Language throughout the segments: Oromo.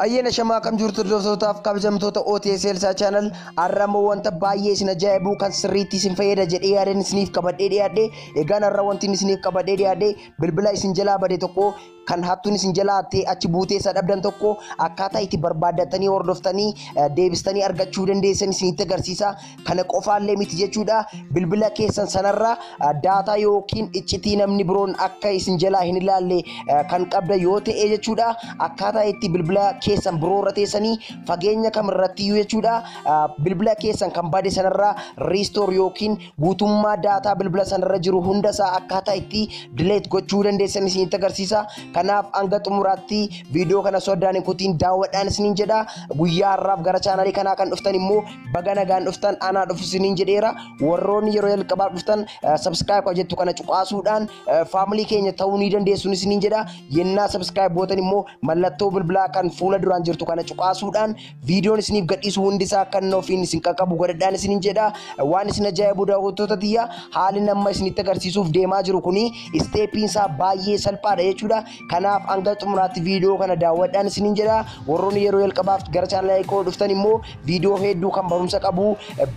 Ayyaana shamaa kam jirtu hordoftootaafi kabajamtoota OTS Elsaa Channel har'a immoo wanta baay'ee isin ajaa'ibu kan sirriitti isin fayyada jedhee yaadeen isiniif qabadhee dhiyaadhe egaan har'a wanti isiniif qabadhee dhiyaadhe bilbila isin jalaa bade tokko kan hattuun isin jala hattee achi buutee isa dhabdan tokko akkaataa itti barbaaddatanii hordoftanii eh, deebistanii argachuu dandeessan isinitti agarsiisa. Kana qofaallee miti jechuudha. Bilbila keessan sanarra eh, daataa yookiin iccitii namni biroon akka isin jalaa hin ilaalle eh, kan qabda yoo ta'e jechuudha. Akkaataa itti bilbila keessan biroo irra teessanii fageenya kamirrattiyyuu jechuudha. Eh, Bilbila keessan kan bade sanarra riistoor yookiin guutummaa daataa bilbila sanarra jiru hunda isaa akkaataa itti delete gochuu dandeessan isinitti agarsiisa. Kanaaf hanga xumuraatti viidiyoo kana soddaan hin kutiin daawwadhaan isiniin jedha. Guyyaa har'aaf gara chaanalii kanaa kan dhuftan immoo baga nagaan dhuftan anaa dhufu isiniin jedheera. Warroonni yeroo jalqabaaf dhuftan subscribe kan jettu kana cuqaasuudhaan faamilii keenya ta'uu ni dandeessuun isiniin jedha. Yennaa subscribe bootan immoo mallattoo bilbilaa kan fuula duraan jirtu kana cuqaasuudhaan viidiyoon isiniif gadhiisu hundi isaa akka inni ofiin isin qaqqabu godhadhaan isinin jedha waan isin ajaa'ibu daawwattoota tiyya haalli nama isinitti agarsiisuuf deemaa jiru kuni isteepiin isaa baay'ee salphaadha jechuudha kanaaf hanga xumuraatti viidiyoo kana daawwadhaan isinin jedha warroonni yeroo jalqabaaf gara chaanalii koo dhuftan immoo viidiyoo hedduu kan barumsa qabu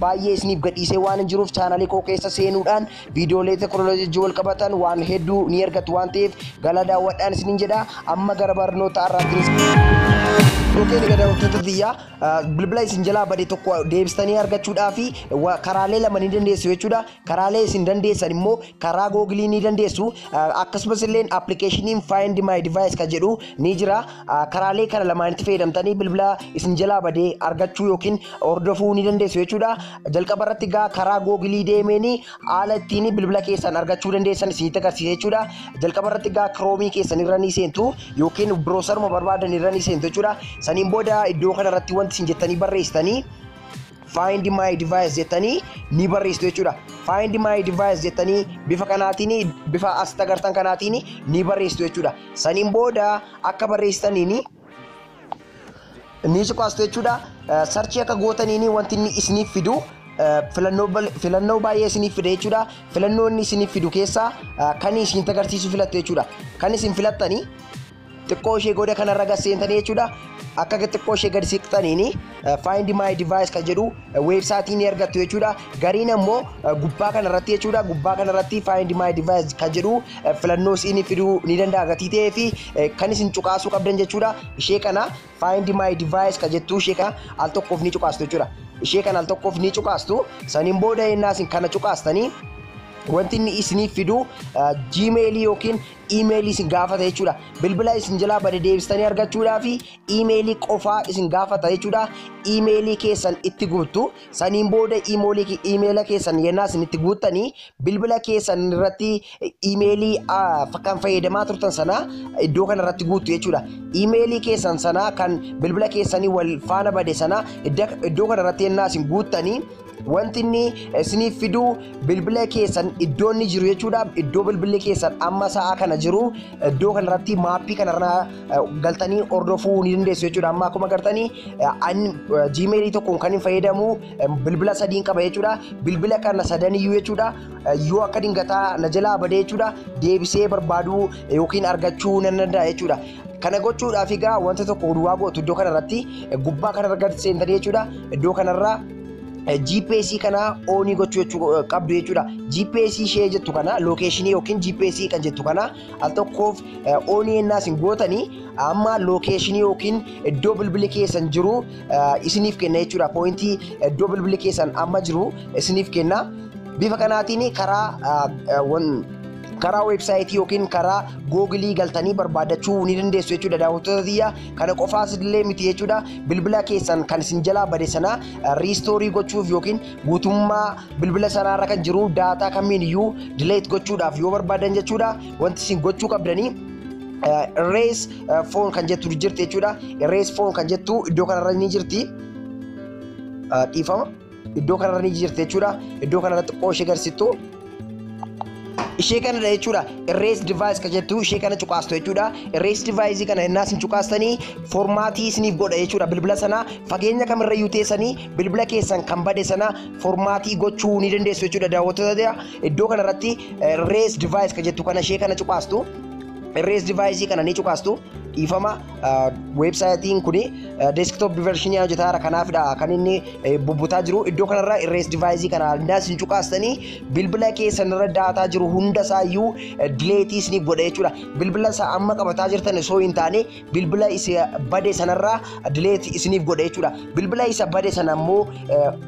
baay'ee isiniif gadhiisee waan hin jiruuf chaanalii koo keessa seenuudhaan Viidiyoolee teeknooloojii wajjin wal qabatan waan hedduu ni argattu waan ta'eef galaa daawwadhaan isiniin jedha. Amma gara barnoota har'aatti Yookiin egaa daawwattoota tiyyaa bilbila isin jalaa bade tokko deebistanii argachuudhaa fi karaalee lama ni dandeessu jechuudha. Karaalee isin dandeessan immoo karaa googilii ni dandeessu. Akkasumas illee appilikeeshiniin Find My Device kan jedhu ni jira. karaalee kana lamaanitti fayyadamtanii bilbila isin jalaa badee argachuu yookiin hordofuu ni dandeessu jechuudha. Jalqaba irratti gaa karaa googilii deemeen haala ittiin bilbila keessan argachuu dandeessan isinitti agarsiisa jechuudha. Jalqaba irratti gaa kiroomii keessan irra ni seentu yookiin biroosaruma barbaadan irra ni seentu jechuudha. Saniin booda iddoo kana irratti wanti isin jettanii barreessitanii find my device jettanii ni barreessitu jechuudha. Find my device jettanii bifa kanaatiin bifa asitti agartan kanaatiin ni barreessitu jechuudha. Saniin booda akka barreessitaniin ni cuqaastu jechuudha. Sarchii akka gootaniin wanti inni isiniif fidu filannoo baay'ee isiniif fida jechuudha. Filannoo inni isiniif fidu keessaa kan isin agarsiisu filattu jechuudha. Kan isin filattanii xiqqoo ishee goda kanarra gad seentanii jechuudha akka xiqqoo ishee gad siqxaniin find my device kan jedhu weebsaayitii ni argattu jechuudha gariin ammoo gubbaa kanarratti jechuudha gubbaa kanarratti find my device kan jedhu filannoo siin fiduu ni danda'a gatii ta'ee fi kan isin cuqaasuu qabdan jechuudha ishee kana find my device kan jettu ishee kana al tokkoof ni cuqaastu jechuudha ishee kana al tokkoof ni cuqaastu saniin booda ennaa isin kana cuqaastanii wanti inni isiniif fidu jiimeelii yookiin iimeelii isin gaafata jechuudha. Bilbila isin jalaa bade deebistanii argachuudhaaf iimeelii qofaa isin gaafata jechuudha. Iimeelii keessan itti guuttu. Saniin booda iimoolii- iimeela keessan yennaa isin itti guuttanii bilbila keessan irratti iimeelii ah, kan fayyadamaa turtan sana iddoo kana irratti guuttu jechuudha. Iimeelii keessan sana kan bilbila keessanii wal faana bade sana idda- iddoo kana irratti yennaa isin guuttanii Wanti inni isiniif fidu bilbila keessan iddoo inni jiru jechuudha. Iddoo bilbilli keessan amma sa'a kana jiru iddoo kanarratti maappii kanarra eh, galtanii hordofuu ni dandeessu jechuudha. Amma akkuma gartanii jiimeelii tokkoon kan hin fayyadamu eh, bilbila sadiin qaba jechuudha. Bilbila kana sadaniyyuu jechuudha eh, yoo akka dingataa na jalaa badee jechuudha deebisee barbaaduu eh, yookiin argachuu nan danda'a jechuudha. Kana gochuudhaaf egaa wanta tokko duwwaa gootu iddoo kanarratti eh, gubbaa kanarra gad seentanii jechuudha iddoo kanarraa GPS kana oonii gochuu jechuu qabdu jechuudha. GPS ishee jettu kana lookeeshinii yookiin GPS kan jettu kana al tokkoof oonii ennaa isin gootanii amma lookeeshinii yookiin iddoo bilbili keessan jiru isiniif kenna jechuudha. Poointii iddoo bilbili keessan amma jiru isiniif kenna. Bifa kanaatiin karaa karaa weebsaayitii yookiin karaa googilii galtanii barbaadachuu ni dandeessu jechuudha daawwattoota tiyya. Kana qofaas illee miti jechuudha. Bilbila keessan kan isin jalaa bade sana riistoorii gochuuf yookiin guutummaa bilbila sanaarra kan jiru daataa kamiin iyyuu dileet gochuudhaaf yoo barbaadan jechuudha. Wanti isin gochuu qabdanii irrees foon kan jettu jirti jechuudha. Irrees foon kan jettu iddoo kanarra ni jirti. Dhiifama. Iddoo kanarra ni jirti jechuudha. Iddoo kanarra xiqqoo ishee garsistu. Ishee kanadha jechuudha. Erase device kan jettu ishee kana cuqaastu jechuudha. Erase device kana innaas hin cuqaastanii formaatii isiniif godha jechuudha. Bilbila sana fageenya kamirra iyyuu teessanii bilbila keessan kan bade sana formaatii gochuu ni dandeessu jechuudha. Daawwattoota iddoo kanarratti erase device kan jettu kana ishee kana cuqaastu. Erase device kana ni cuqaastu. Dhiifama. weebsaayitiin kun deeskitoop diversiinii hojjetaara kanaafidha kan inni bubbutaa jiru iddoo kanarra irrees divaayizii kana hundaas hin cuqaastanii bilbila keessan irra daataa jiru hunda isaayyuu dileetiis ni godha jechuudha bilbila isaa amma qabataa jirtan osoo hin taane bilbila isa bade sanarra dileet isiniif godha jechuudha bilbila isa bade sana immoo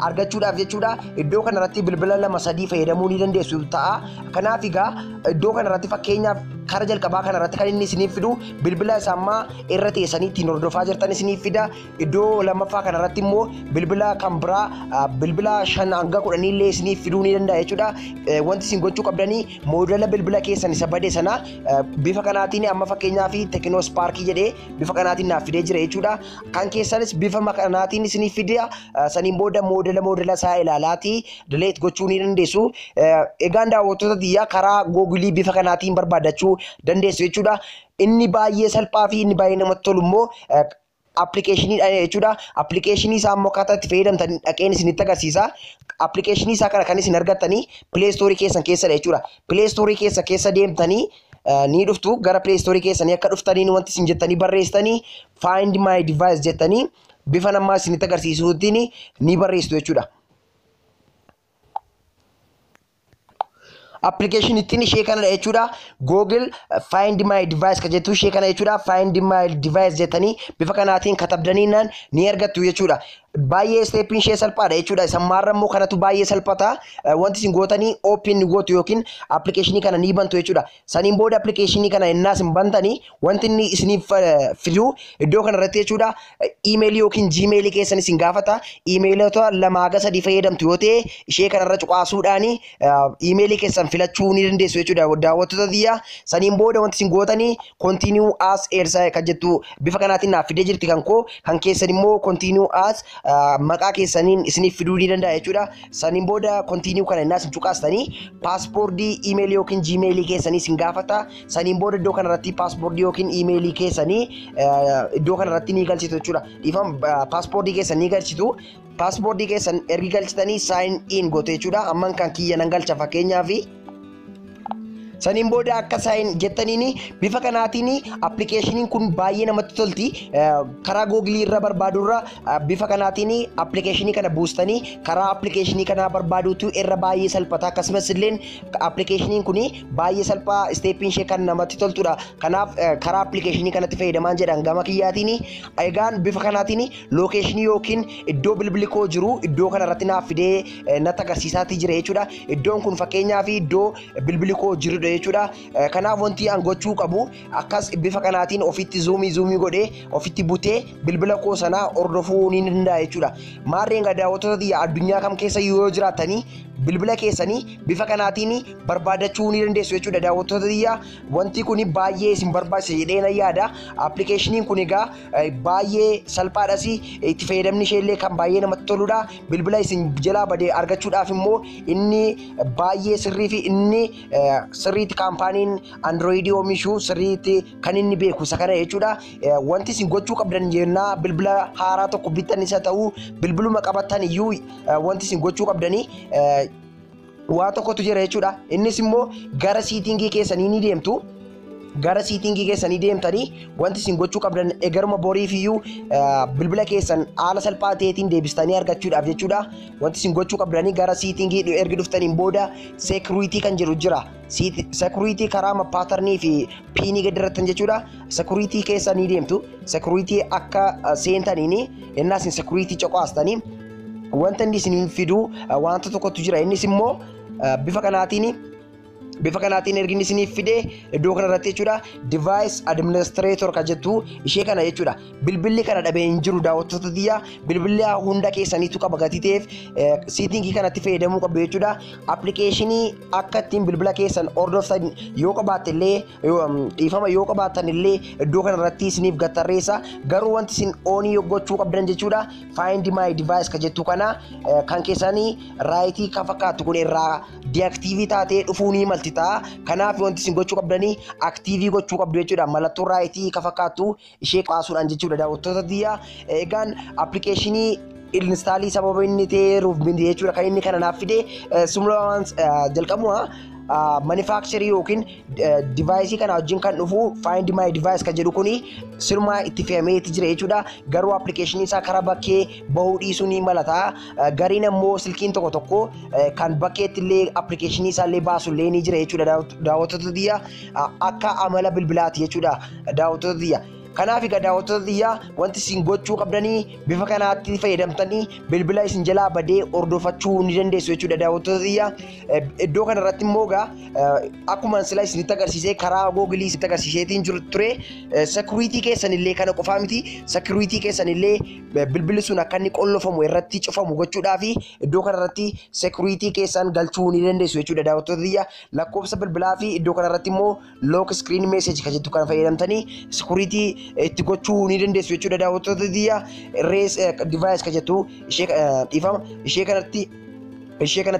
argachuudhaaf jechuudha iddoo kanarratti bilbila lama sadii fayyadamuu ni dandeessu ta'a kanaaf egaa iddoo kanarratti fakkeenyaaf kara jalqabaa kanarratti kan inni isiniif fidu bilbila isa ammaa irra teessanii ittiin hordofaa jirtan isiniif fida iddoo lammaffaa kanarratti immoo bilbila kan biraa ah, bilbila shan hanga kudhanii illee isiniif fiduu ni danda'a jechuudha Eh, wanti isin gochuu qabdanii moodela bilbila keessan isa bade sana eh, bifa kanaatiin amma fakkeenyaa fi tekinoo ispaarkii jedhee bifa kanaatiin naaf fidee jira jechuudha kan keessanis bifa kanaatiin isiniif fida Ah, saniin booda moodela moodela isaa ilaalaati Delete gochuu ni dandeessu. Eh, Egaan daawwattoota tiyyaa karaa googilii bifa kanaatiin barbaadachuu dandeessu jechuudha. Inni baay'ee salphaa fi inni baay'ee namatti tolu immoo eh, appilikeeshiniidha jechuudha. Appilikeeshinii isaa immoo akkaataa itti fayyadamtan dhaqeen isinitti agarsiisa. Appilikeeshinii isaa kana kan isin argattanii pileestoorii keessan keessadha jechuudha. Pileestoorii keessa keessa deemtanii eh, ni dhuftu gara pileestoorii keessanii akka dhuftaniin wanti isin jettanii barreessitanii find my device jettanii bifa namaa isinitti agarsiisuutiin ni barreessitu jechuudha. application ittiin ishee kanadha jechuudha google find my device ka jettu ishee kana jechuudha find my device jettanii bifa kanaatiin katabdaniinaan ni argattu jechuudha baay'ee steepiin ishee salphaadha jechuudha isa maarra immoo kanatu baay'ee salphata Eh, wanti isin gootanii open ni gootu yookiin application kana ni bantu jechuudha Saniin booda appilikeeshinii kana ennaa isin bantanii wanti inni isiniif fidu iddoo kanarratti jechuudha iimeelii yookiin jiimeelii keessan isin gaafata. Iimeelota lama haga sadii fayyadamtu yoo ta'e ishee kanarra cuqaasuudhaan iimeelii keessan filachuu ni dandeessu jechuudha daawwattoota tiyya. Saniin booda wanti isin gootanii continue as eersa kan jettu bifa kanaatiin naaf fidee jirti kan koo kan keessan immoo continue as maqaa keessaniin isiniif fiduu ni danda'a jechuudha. Saniin booda continue kana innaa isin cuqaastanii paaspoortii iimeelii yookiin jiimeelii keessanii isin gaafata. Saniin booda iddoo kanarratti paaspoortii yookiin iimeelii keessanii eh, iddoo kanarratti ni galchitu jechuudha. Dhiifama eh, paaspoortii keessan ni galchitu. Paaspoortii keessan ergi galchitanii sign in goote jechuudha. Amman kan kiyya nan galcha fakkeenyaaf. Saniin booda akka saayin jettaniin bifa kanaatiin appilikeeshiniin kun baay'ee namatti tolti. Karaa googilii irra barbaadurra bifa kanaatiin appilikeeshinii kana buustanii karaa appilikeeshinii kanaa barbaaduutu irra baay'ee salphata. Akkasumas illee appilikeeshiniin kun baay'ee salphaa isteeppiin ishee kan namatti toltudha. Kanaaf karaa appilikeeshinii kanatti fayyadamaan jedhan gama kiyyaatiin egaan bifa kanaatiin lookeeshinii yookiin iddoo bilbili koo jiru iddoo kanarratti naaf fidee eh, natti agarsiisaatii jira jechuudha. Iddoon kun fakkeenyaa fi iddoo bilbili koo jirudha jechuudha. Eh, Kanaaf wanti an gochuu qabu akkas bifa kanaatiin ofitti zuumii zuumii godhee ofitti butee bilbila koo sanaa hordofuu ni danda'a jechuudha. Maarreen egaa daawwattoota tiyya addunyaa kam keessa yoo jiraatanii bilbila keessanii bifa kanaatiin barbaadachuu ni dandeessu jechuudha daawwattoota tiyya wanti kun baay'ee isin barbaachisa jedhee na yaada appilikeeshiniin kun egaa baay'ee salphaadhas itti fayyadamni ishee illee kan baay'ee namatti toludha bilbila isin jalaa bade argachuudhaaf immoo inni baay'ee sirrii fi inni sirriitti kaampaaniin androoyidii oomishu sirriitti kan inni beeku isa kana jechuudha wanti isin gochuu qabdan jennaa bilbila haaraa tokko bittan isa ta'u bilbiluma qabattan iyyuu wanti isin gochuu qabdanii waa tokkotu jira jechuudha. Innis immoo gara siitingii keessanii ni deemtu. Gara siitingii keessanii deemtanii wanti isin gochuu qabdan egaruma boriif iyyuu bilbila keessan haala salphaa ta'eetiin deebistanii argachuudhaaf jechuudha. Wanti isin gochuu qabdanii gara siitingii ergi dhuftaniin booda seekuriitii kan jedhu jira. Seekuriitii karaa paatarnii fi piinii gadi irrattan jechuudha. Seekuriitii keessa ni deemtu. Seekuriitii akka seentaniin innaa isin seekuriitii coqaastanii Wanta inni isiniin fidu wanta tokkotu jira. Innis immoo bifa kanaatiin bifa kanaatiin ergi inni isiniif fide iddoo kanarratti jechuudha device administrator kan jettu ishee kana jechuudha bilbilli kana dhabee hin jiru daawwattoota tiyya bilbilli hunda keessaniitu qaba gatii ta'eef siitingii kanatti fayyadamuu qabdu jechuudha appilikeeshinii akka ittiin bilbila keessan hordoftan yoo qabaatte illee dhiifama yoo qabaattan illee iddoo kanarratti isiniif gattarreessa garuu wanti isin oonii gochuu qabdan jechuudha Find my device ka jettu kana eh, kan keessanii raayitii kan fakkaattu kun irraa deaktiivii taatee dhufuu ni malti ta'a. Kanaaf wanti isin gochuu qabdanii aktiivii gochuu qabdu jechuudha. Mallattoo raayitii kan fakkaattu ishee qaasuudhaan jechuudha daawwattoota biyya. Egaan appilikeeshinii instaalii sababa inni ta'eeruuf miti jechuudha kan inni kana naaf fide. Eh, Sumla waan eh, jalqabuma manufacturer yookiin divaayisii kana wajjin kan dhufu find my device kan jedhu kuni sirmaa itti fe'amee itti jira jechuudha. Garuu appilikeeshinii isaa karaa bakkee bahuu dhiisuu ni malata. Gariin ammoo silkiin tokko tokko kan bakkeetti illee appilikeeshinii isaa illee baasu illee ni jira jechuudha daawwattoota tiyya akka amala bilbilaati jechuudha daawwattoota tiyya. Kanaaf egaa daawwattoota tiyya wanti isin gochuu qabdanii bifa kanaatti fayyadamtanii bilbila isin jalaa badee hordofachuu ni dandeessu jechuudha daawwattoota tiyya. Iddoo kanarratti immoo egaa Akkuma sila isinitti agarsiisee karaa googilii isinitti agarsiiseetiin jiru ture sekuriitii keessan illee kana qofaa miti sekuriitii keessan illee bilbilli sun akka inni qollofamu irratti cufamu gochuudhaa fi iddoo kanarratti sekuriitii keessan galchuu ni dandeessu jechuudha daawwattoota biyya lakkoofsa bilbilaa fi iddoo kanarratti immoo look iskiriin meeseeji kan jettu kana fayyadamtanii sekuriitii itti gochuu ni dandeessu jechuudha daawwattoota biyya rees divaayis kan jettu ishee dhiifama ishee kanatti ishee kana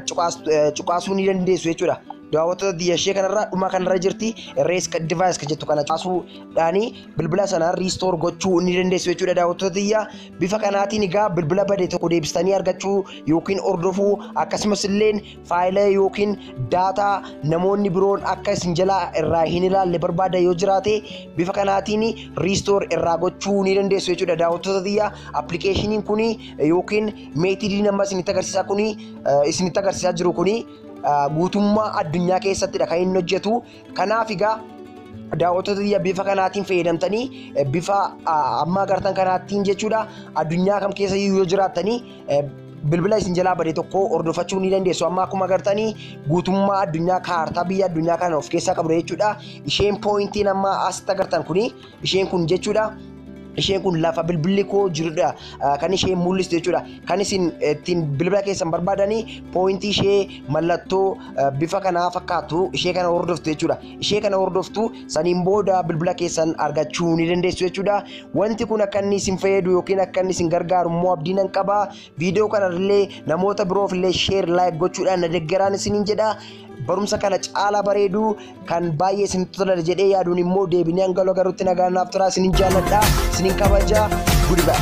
cuqaasuu ni dandeessu jechuudha. Daawwattoota biyya ishee kanarraa dhuma kanarra jirti rees device kan jettu kana cuqaasuudhaani bilbila sana riistoor gochuu ni dandeessu jechuudha daawwattoota biyya bifa kanaatiin egaa bilbila bade tokko deebistanii argachuu yookiin hordofuu akkasumas illee faayila yookiin daataa namoonni biroon akka isin jalaa irraa hin ilaalle barbaada yoo jiraate bifa kanaatiin riistoor irraa gochuu ni dandeessu jechuudha daawwattoota biyya appilikeeshiniin kun yookiin meetidiin amma isinitti agarsiisaa kuni isinitti agarsiisaa jiru kuni guutummaa addunyaa keessattidha kan inni hojjetu. Kanaaf egaa daawwattoota biyya bifa kanaatiin fayyadamtanii bifa amma agartan kanaattiin jechuudha addunyaa kam keessa yoo jiraattanii bilbila isin jalaa bade tokko hordofachuu ni dandeessu. Amma akkuma agartanii guutummaa addunyaa kaartaa biyya addunyaa kana of keessaa qabudha jechuudha. Isheen pooyintiin amma asitti agartan kuni Isheen kun jechuudha. Isheen kun lafa bilbilli koo jirudha kan isheen mul'istu jechuudha. Kan isin ittiin bilbila keessan barbaadanii pooyintii ishee mallattoo bifa kanaa fakkaatu ishee kana hordoftu jechuudha. Ishee kana hordoftu saniin booda bilbila keessan argachuu ni dandeessu jechuudha. Wanti kun akka inni isin fayyadu yookiin akka inni isin gargaaru immoo abdiin nan qaba. Viidiyoo kanarrillee namoota biroofillee sheer laayik gochuudhaan na deggeraan isiniin jedha. Barumsa kana caalaa bareedu kan baay'ee isin tola jedhee yaaduun immoo deebinee hanga wal agarrutti nagaan naaf turaa isiniin jaalladha. Isiniin kabaja. Goodbye.